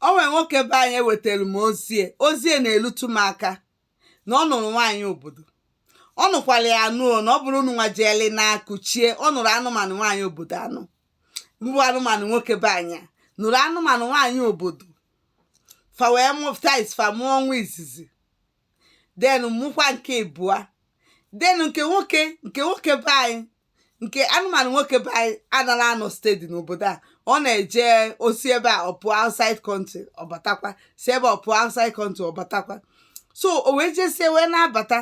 o nwere nwoke be anyị wetara m ozi ya ozi ya na-elutu m aka na ọ nụrụ nwaanyị obodo ọ nụkwara ya anụ na ọ bụrụ unu nwa jeeli na kuchie ọ nụrụ anụmanụ nwaanyị obodo anụ mbụ anụmanụ nwoke be anyị nụrụ anụmanụ nwaanyị obodo fa wee mụpụta fa mụọ nwa izizi then mụkwa nke ịbụa then nke nwoke nke nwoke be anyị nke anụmanụ nwoke be anyị anarọ anọ steady n'obodo a ọ na-eje o si ebe a pụọ outside country ọ batakwa si ebe a pụọ outside country ọ batakwa so o wee jesie wee na-abata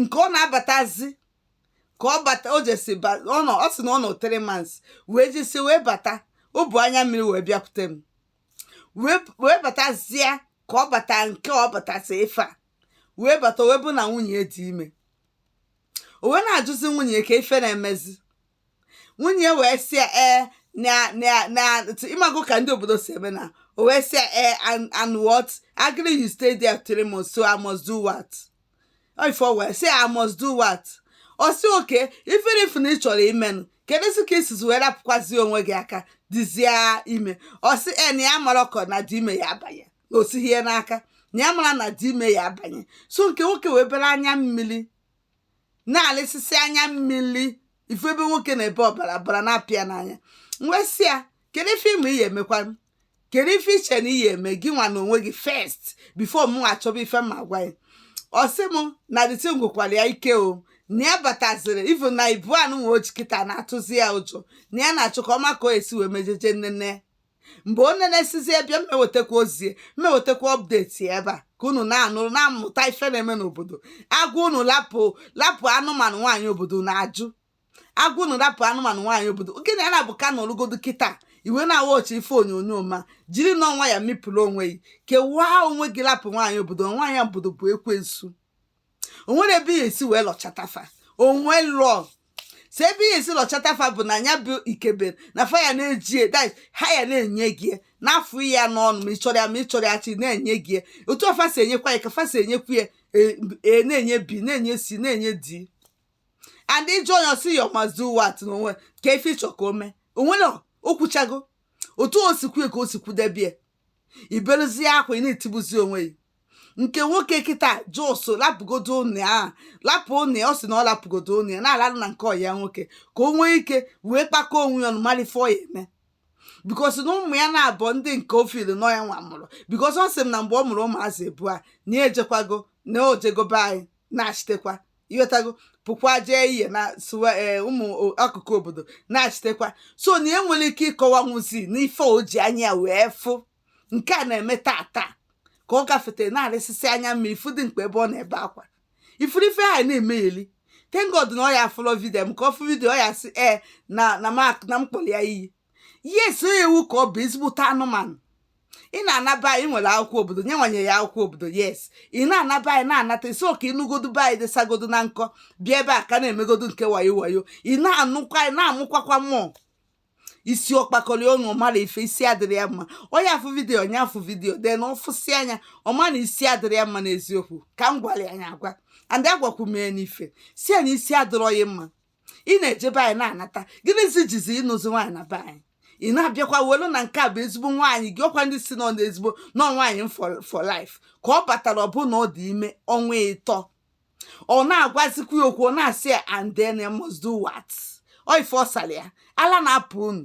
nke ọ na-abatazi ka ọ bata o jesi ba- ọ nọ ọ sị na ọ nọ three months wee jesie wee bata o bu anya mmiri wee bịakwute m wee wee batazie ka ọ bata nke ọ batasi ife a wee bata wee bụ na nwunye ya dị ime o wee na-ajụzi nwunye ya kee ife na-emezi nwunye ya wee sị ya ee na na na ị mago ka ndị obodo si eme na o wee sị ya ee and and what agree you stay there three months so I must do what ọ ife o wee sị ya I must do what ọ sị okay even if na ị chọrọ imenụ kedu si ka i sizi wee rapụkwazi onwe gị aka dịzie ime ọ sị e na ya marọkwọ na the ime ya abanye na o sighi ya n'aka na ya marọ na the ime ya abanye so nke nwoke wee bere anya mmiri na-alịsịsị anya mmiri ị fụ ebe nwoke na-ebe ọbara bara na-apụ ya n'anya wee sị ya kedu ife ị ma ị ya emekwa kedu ife i che na ị ya eme gị nwa na onwe gị first before mụ achọba ife m ya agwa ya ọ sị m na the thing gwụkwara ya ike o na ya bataziri even na ibu anụ nwe oji kịta na-atụzi ya ụjọ na ya na-achọ ka ọ ma ka ọ ya esi wee mejeje nnene mgbe o nenesizi bịa m ewetakwa ozi ya m ewetakwa update ebe a ka unu na-anụrụ na-amụta ife na-eme n'obodo a gwa unu lapụ lapụ anụmanụ nwaanyị obodo na-ajụ a gwa unu lapụ anụmanụ nwaanyị obodo gịnị a na-abụ ka nọrụgodo kịta iwe na-ewo gị ife onyonyo ma jiri nwayọ mịpụrụ onwe gị kewaa onwe gị lapụ nwaanyị obodo nwaanyị obodo bụ ekwensu o nwere ebe ị ya esi wee lọchata fa o nwelu sọ ebe ị ya esi lọchata fa bụ na ya bụ ikebe na fa ya na-eji ya- that is, ha ya na-enye gị ya, n'afọ ya n'ọnụ ma ị chọrọ ya ma ị chọrọ ya chi na-enye gị ya. otu fa si enyekwa ya ka fa si enyekwa A na-enye B na-enye C na-enye D and ị jụọ ya ọ sị ya must do what n'onwe kee ife ị chọ ka o mee o nwere o kwuchago otu o si kwue ka o si kwudebie i beluzie akwa ị na-etibuzi onwe gị nke nwoke kịta just lapụgodo ụnọ ya lapụ ụnọ ya ọ sị na ọ lapụgodo ụnọ ya na-alalụ na nke ọyị ya nwoke ka o nwee ike wee kpakọọ onwe ya ọnụ mara ife ọ ya eme because na ụmụ ya naabọ ndị nke o feel na ọ ya nwa mụrụ because ọ sị m na mgbe ọ mụrụ ụmụazị ịbụa na ya ejekwago na o jego be anyị na-achitekwa ịghọtago pụkwa jee ihe na sụwa ee ụmụ o- akụkụ obodo na-achitekwa so na ya nwere ike ịkọwanwuzi n'ife o ji anya ya wee fụ nke a na-eme taa taa ka ọ gafete na-arịsịsị anya mma ifu dị mkpa ebe ọ na-ebe akwa ị fụrụ ife ha na-emegheli thank God na ọ ya afụlọ vidio m ka ọ fụ vidio ọ ya sị ee na na m ak- na m kpọrọ ya iyi yes onye ewu ka ọ bụ ezigbote anụmanụ ị na-ana be anyị were akwụkwọ obodo nye nwanye ya akwụkwọ obodo yes ị na-ana be anyị na-anata ị sị ka ị nụgodu be anyị desagodo na nkọ bịa ebe a ka na-emegodu nke wayo wayo ị na-anụkwa anyị na-amụkwakwa mmụọ isi ọ kpakọrọ ọnụ ọ maara ife isi adịrọ ya mma onye afụ vidiyo onye afụ vidiyo then na ọ fụsị anya ọ ma na isi adịrọ ya mma n'eziokwu ka m gwara ya anya agwa and agwakwu mee n'ife si ya na isi adịrọ ya mma ị na-eje be anyị na-anata gịnịzi jizi ịnụzi nwaanyị na be anyị ị na-abịakwa welu na nke a bụ ezigbo nwaanyị gị ọ kwa ndị sị nọ n'ezigbo nọ nwaanyị m for for life ka ọ batara ọ bụ na ọ dị ime ọnwa ịtọ ọ na-agwazikwa ya okwu ọ na-asị ya and then I must do what ọ ife ọ sara ya ala na-apụ unu